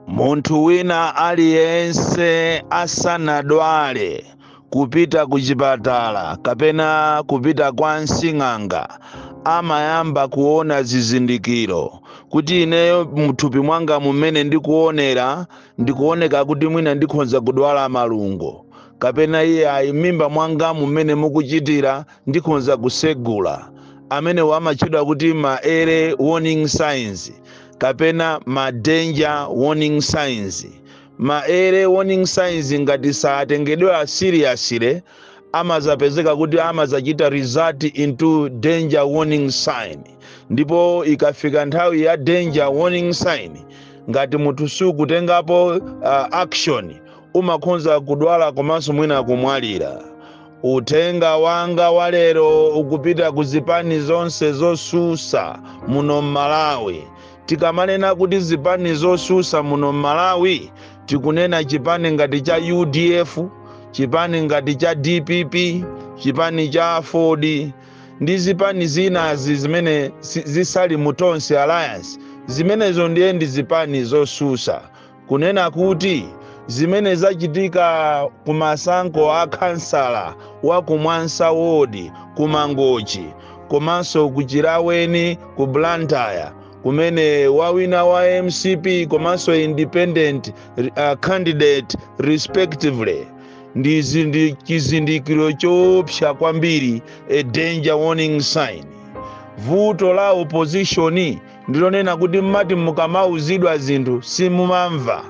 munthu wina aliyense asanadwale kupita ku chipatala kapena kupita kwa msing'anga amayamba kuona zizindikiro kuti ineyo mthupi mwangamu mmene ndikuonera ndikuoneka kuti mwina ndikhonza kudwala malungo kapena iye ayi mmimba mwangamu mmene mukuchitira ndikhonza kusegula amenewa amatchedwa kuti ma early warning signs kapena ma danger warning signs ma early warning signs ngati satengedwa seriously amazapezeka kuti amazachita result into danger warning sign ndipo ikafika nthawi ya danger warning sign ngati munthu sukutengapo uh, action umakhonza kudwala komanso mwina kumwalira uthenga wanga walero ukupita ku zipani zonse zosusa muno m'malawi tikamanena kuti zipani zosusa muno m'malawi tikunena chipani ngati cha udf chipani ngati cha dpp chipani cha aford ndi zipani zinazi zimene si- zisali mu tonse alliance zimenezo ndiye ndi zipani zosusa kunena kuti zimene zachitika ku masankho a khansala wa ku mwansa wodi ku mangochi komanso ku chilaweni ku blantyre kumene wawina wa mcp komanso independent uh, candidate respectively ndi zindi- chizindikiro choopsa kwambiri a danger warning sign vuto la opposition ndi lonena kuti mumati mukamauzidwa zinthu simumamva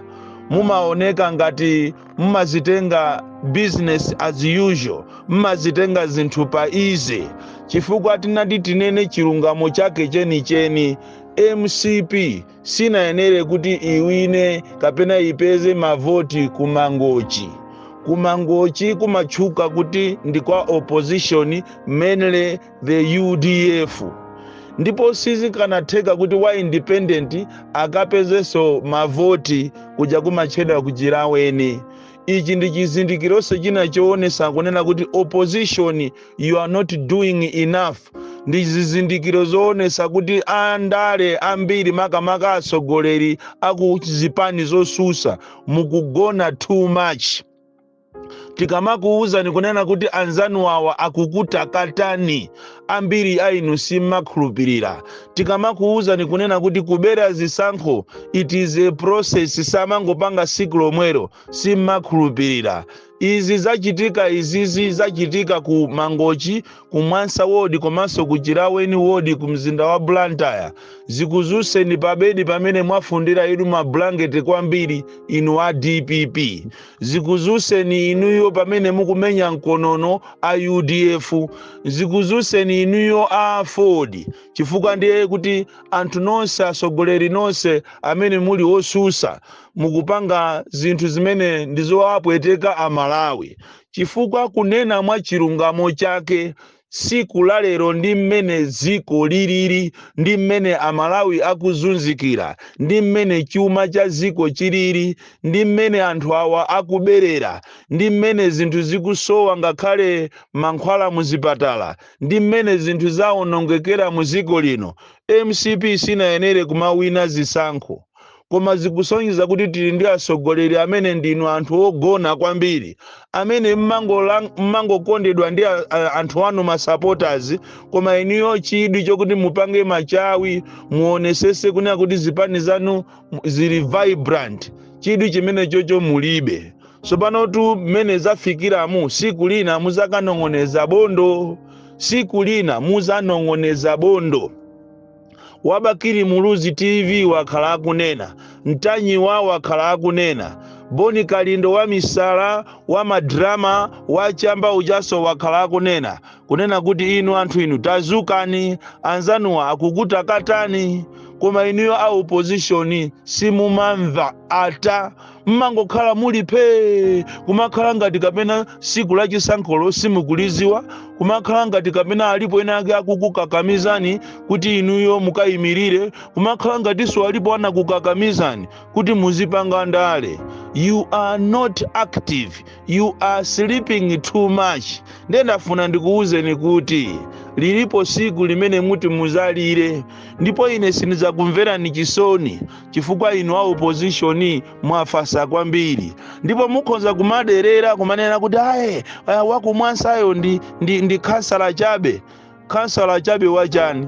mumaoneka ngati mumazitenga business as usual mumazitenga zinthu pa easy chifukwa titati tinene chilungamo chake chenicheni mcp sinayenere kuti iwine kapena ipeze mavoti ku mangochi ku mangochi kumatchuka kuti ndi kwa opposition mainly the udf ndipo sizikanatheka kuti wa independent akapezenso mavoti kuja kumatchedwa ku chilaweni ichi ndi chizindikironso china choonesa kunena kuti opposition you are not doing enough ndi zizindikiro zoonesa kuti andale ambiri makamaka atsogoleri aku zipani zosusa mukugona too much tikamakuwuzani kunena kuti anzanu awa akukutakatani ambiri a inu simmakhulupirira tikamakuwuzani kunena kuti kubera zisankho it is a process samangopanga siku lomwero simmakhulupirira izi zachitika izizi zachitika ku mangochi ku mwansa wodi komanso ku chilaweni wodi ku mzinda wa blantyre zikuzuseni pabedi pamene mwafundira inu mabulangeti kwambiri inu a dpp zikuzuseni inuyo pamene mukumenya mkonono a udf zikuzuseni inuyo a aford chifukwa ndiye kuti anthu nonse atsogoleri nonse amene muli osusa mukupanga zinthu zimene ndizowapweteka amalawi chifukwa kunena mwa chilungamo chake Tsiku la lero ndi mmene dziko lilili, ndi mmene Amalawi akuzunzikira, ndi mmene chuma cha dziko chilili, ndi mmene anthu awa akuberera, ndi mmene zinthu zikusowa ngakhale mankhwala mu zipatala, ndi mmene zinthu zaonongekera mu dziko lino, mcp sinayenere kumawina zisankho. koma zikusonyeza kuti tili ndi atsogoleri amene ndinu anthu ogona kwambiri amene mmangolang- mmangokondedwa ndi a- a- anthu anu masupporters koma inuyo chidwi chokuti mupange machawi muonesese kunena kuti zipani zanu mu- zili vibrant chidwi chimene chocho mulibe tsopano tu mmene zafikiramu siku lina muzakanong'oneza bondo siku lina muzanong'oneza bondo wabakiri muluzi tv wakhala akunena mtanyiwa wakhala akunena boni kalindo wa misala wa madrama wa chamba ujaso wakhala akunena kunena kuti inu anthu inu tazukani anzanuwa akukutakatani koma inuyo a opposition simumamva ata mmangokhala muli phee kumakhala ngati kapena siku la chisankholo simukuliziwa kumakhala ngati kapena alipo ena ake akukukakamizani kuti inuyo mukayimirire kumakhala ngatinso alipo anakukakamizani kuti muzipanga ndale you are not active you are sleeping too much ndiye ndafuna ndikuwuzeni kuti lilipo siku limene muti muzalire ndipo ine sindidzakumverani chisoni chifukwa inu a opposition mwafasa kwambiri ndipo mukhoza kumaderera kumanena kuti aye ah, wakumwansayo ndi, ndi, ndi khansala chabe khansala chabe wachani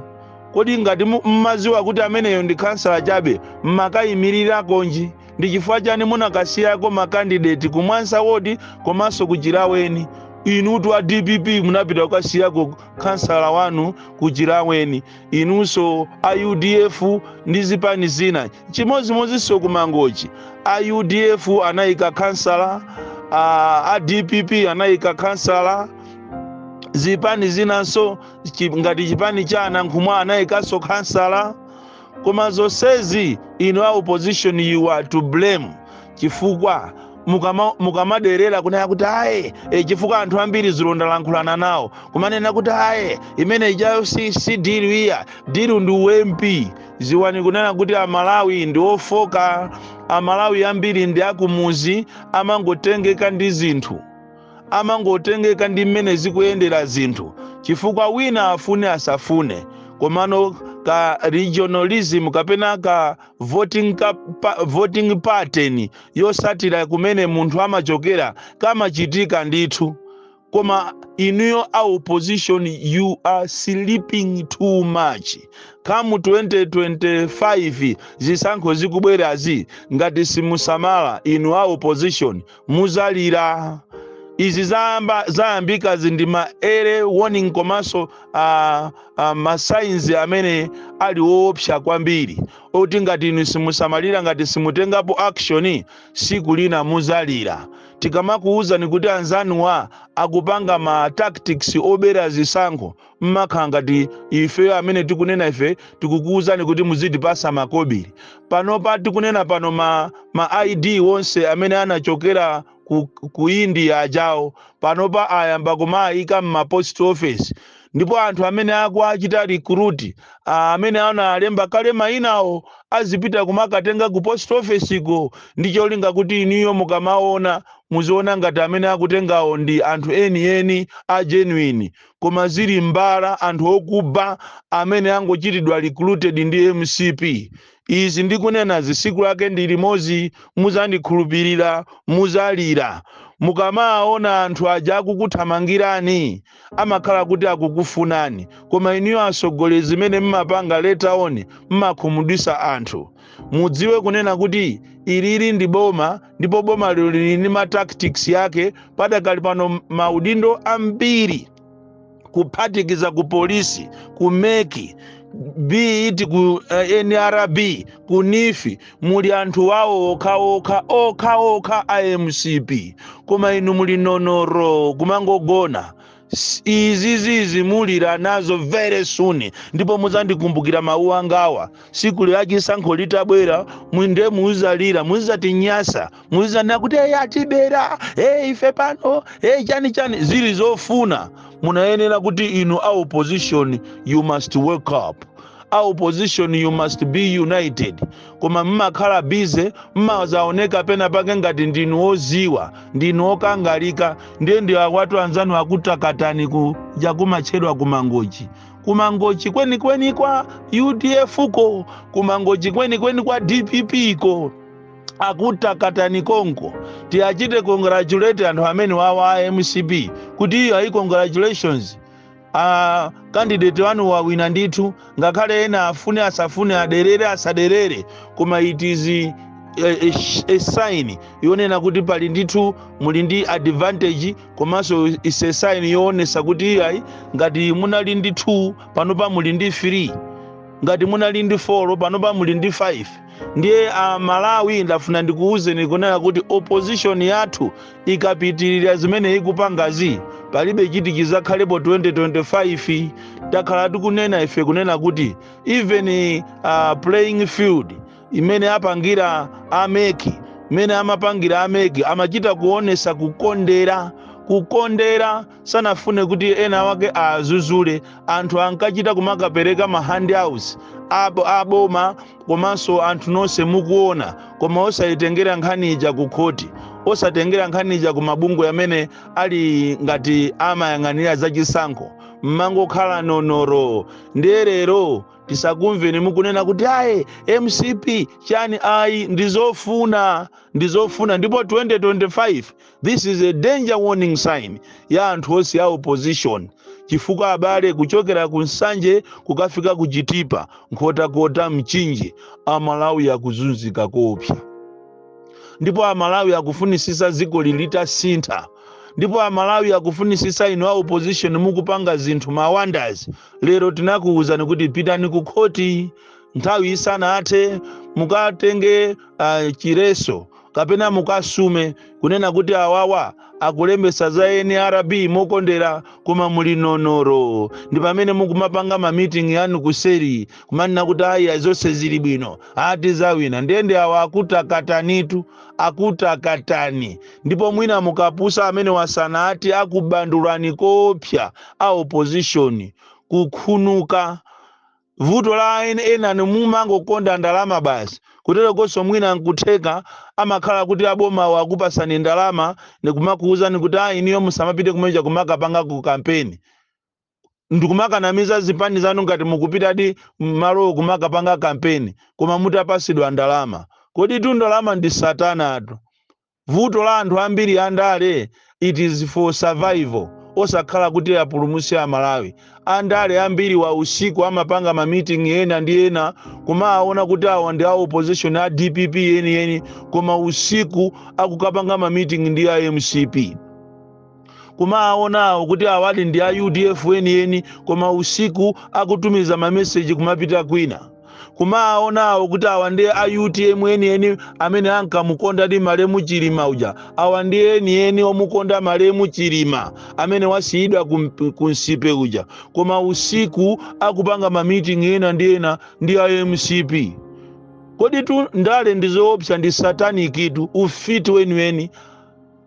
kodi ngati mu- mmaziwa kuti ameneyo ndi khansala chabe mmakayimiriranji ndi chifukwa chani munakasiyako makandideti kumwansa wodi komanso kuchilaweni inutu a dpp munapita kukasiyako khansala wanu kuchilaweni inunso a udf ndi zipani zina chimodzimodzinso ku mangochi a udf anayika khansala a, a dpp anayika khansala zipani zinanso chi- ngati chipani cha anankhumwa anayikanso khansala koma zonsezi inu a opposition you are to blame chifukwa mukama- mukamaderera kunena kuti ayi e, chifukwa anthu ambiri ndilo ndalankhulana nawo kumanena kuti ayi imene ijayo si, si dilu iyayi dilu ndi MP dziwani kunena kuti amalawi ndi ofoka amalawi ambiri ndi akumuzi amangotengeka ndi zinthu amangotengeka ndi mmene zikuyendera zinthu chifukwa wina afune asafune komano ka regionalism kapena ka voting, ka, pa, voting pattern yotsatira kumene munthu amachokera kamachitika ndithu koma inuyo a opposition you are sleeping too much come 2025 zisankho zikubwerazi ngati simusamala inu a opposition muzalira izi zayamba zayambikazi ndi ma early warning komanso uh, uh, masainzi amene ali oopsa kwambiri oti ngati inu simusamalira ngati simutengapo action tsiku lina muzalira tikamakuuzani kuti anzanuwa akupanga ma tactics obera zisankho mmakhala ngati ifeyo amene tikunena ife tikukuuzani kuti muzitipatsa makobiri panopa tikunena pano ma, ma id onse amene anachokera ku, ku india ajawo panopa ayamba kumaayika m'mapost office ndipo anthu amene akuwachita recruit ah, amene anawalemba kale mayinawo azipita kumakatenga ku post office ko ndi cholinga kuti inuyo mukamaona muziona ngati amene akutengawo ndi anthu enieni a genuine koma zili mbala anthu okuba amene angochitidwa recruited ndi mcp Izi ndikunenazi tsiku lake ndi limodzi mudzandikhulupilila mudzalila mukamawaona anthu aja akukuthamangilani amakhala kuti akukufunani koma inuyo atsogoleli zimene mmapanga later on mmakhumudwitsa anthu mudziwe kunena kuti ili ili ndi boma ndipo boma lino lili ndi ma tactics ake padakali pano maudindo ambiri kuphatikiza ku polisi ku mec bt ku eh, nrb ku neef muli anthu wawo okhaokha okhaokha a mcp koma inu muli nonoro kumangogona S- izizizi mudzalira nazo very soon ndipo muzandikumbukira mawu angawa tsiku la chisankho litabwera inde muzalira muzatinyasa mudzizanena kuti eyi atibera eyi ife pano eyi chani chani zili zofuna munayenera kuti inu a opposition you must wake up a opposition you must be united koma mmakhala bize mmazaoneka pena pake ngati ndinu oziwa ndinu okangalika ndiye ndi awatu anzanu akutakatani ku jakumatchedwa kumangochi kumangochi kwenikweni kwa udf ko kumangochi kwenikweni kwa dpp ko akutakatani konko tiwachite congratulate anthu amene wawa a mcp kuti iyayi congratulations a kandideti wanu wawina ndithu ngakhale ena afune asafune aderere asaderere koma it is a, a, a sign yonena kuti pali ndithu muli ndi advantage komanso is a sign yoonesa kuti iyayi ngati munali ndi 2 panopa muli ndi 3 ngati munali ndi 4 panopa muli ndi 5 ndiye a malawi ndafuna ndikuwuzeni kunena kuti opposition yathu ikapitirira zimene ikupangazi palibe chiti chizakhalepo 2025 takhala tikunena ife kunena kuti even uh, playing field imene apangira ameki imene amapangira ameki amachita kuonesa kukondera kukondera sanafune kuti ena wake adzudzule anthu ankachita kumakapereka ma handouts aboma komanso anthu nonse mukuona koma osayitengera nkhani ija ku khoti osatengera nkhani ija ku mabungwe amene ali ngati amayang'anira zachisankho mmangokhala nonoro ndiye lero tisakumveni mukunena kuti ayi mcp chani ayi ndizofuna ndizofuna ndipo 2025 this is a danger warning sign ya anthu onse ya opposition chifukwa abale kuchokera ku nsanje kukafika ku chitipa nkhotakota mchinji amalawi akuzunzika koopsa ndipo amalawi akufunisisa dziko litasintha ndipo amalawi akufunisisa inu a opposition mukupanga zinthu ma wonders lero tinakuwuzani kuti pitani ku khoti nthawi isanathe mukatenge uh, chiletso kapena mukasume kunena kuti awawa akulembesa za nrb mokondera koma muli nonoro ndi pamene mukumapanga mamiting yanu kuseri kumanena kuti ayi zonse zili bwino ati zawina ndiyeno awa akutakatanitu akutakatani ndipo mwina mukapusa amene wasana ati akubandulani kopsa a opposition kukhunuka vuto la en- enani mumangokonda ndalama basi kuterokonso mwina nkutheka amakhala kuti abomawo akupatsani ndalama ndikumakuwuzani kuti ayi iniyo musamapite kumeja kumakapanga ku kampeni ndikumakanamiza zipani zanu ngati mukupitadi mmalowo kumakapanga kampeni koma mutapatsidwa ndalama koditu ndalama ndi satanatu Vuto la anthu ambiri andale it is for survival osakhala kuti apulumuse amalawi. Andale ambiri awa usiku amapanga ma meeting ena ndi ena kumaawona kuti awa ndi a opposition a dpp eni eni koma usiku akukapanga ma meeting ndi a mcp. kumawaonawo kuti awadi ndi a udf enieni koma usiku akutumiza mameseji kumapita kwina kumawaonawo kuti awa ndi a utm enieni amene ankamukondadi malemu chilima uja awa ndi enieni omukonda malemu chilima amene wasiyidwa kum- kumsipe uja koma usiku akupanga mamiting ena ndi ena ndi a mcp koditu ndale ndizoopsa ndi satanictu ufiti weniweni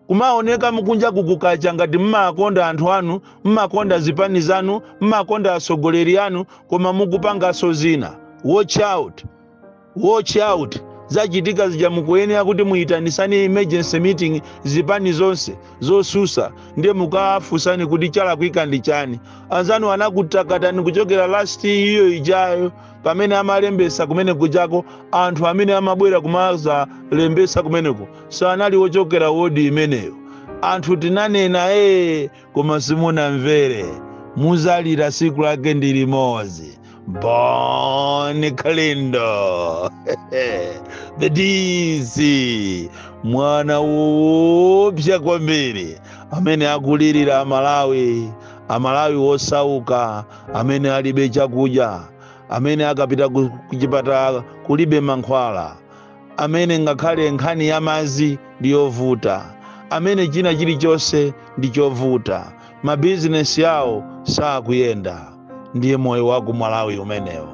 Kumaoneka kunjaku kukacha ngati mmawakonda anthu anu, mmakonda zipani zanu, mmakonda atsogoleri anu koma mukupanganso zina. Watch out! Watch out! Zachitika zija mukuyenera kuti muitanisane emergency meeting zipani zonse zotsutsa ndiye mukafunsane kuti chalakwika ndi chani. Anzanu anakutakatani kuchokera last iyo ijayo pamene amalembesa kumene kujako anthu amene amabwera kumazalembesa kumeneko sanali ochokera wodi imeneyo anthu tinanena ee koma simunamvere muzalira siku lake ndi limodzi boni kalindo the dc mwana woopsa kwambiri amene akulilira amalawi amalawi osauka amene alibe chakudya amene akapita ku ku chipatala kulibe mankhwala amene ngakhale nkhani ya madzi ndi yovuta amene china chilichonse ndi chovuta mabizinesi awo sakuyenda ndiye moyo wa ku malawi umenewo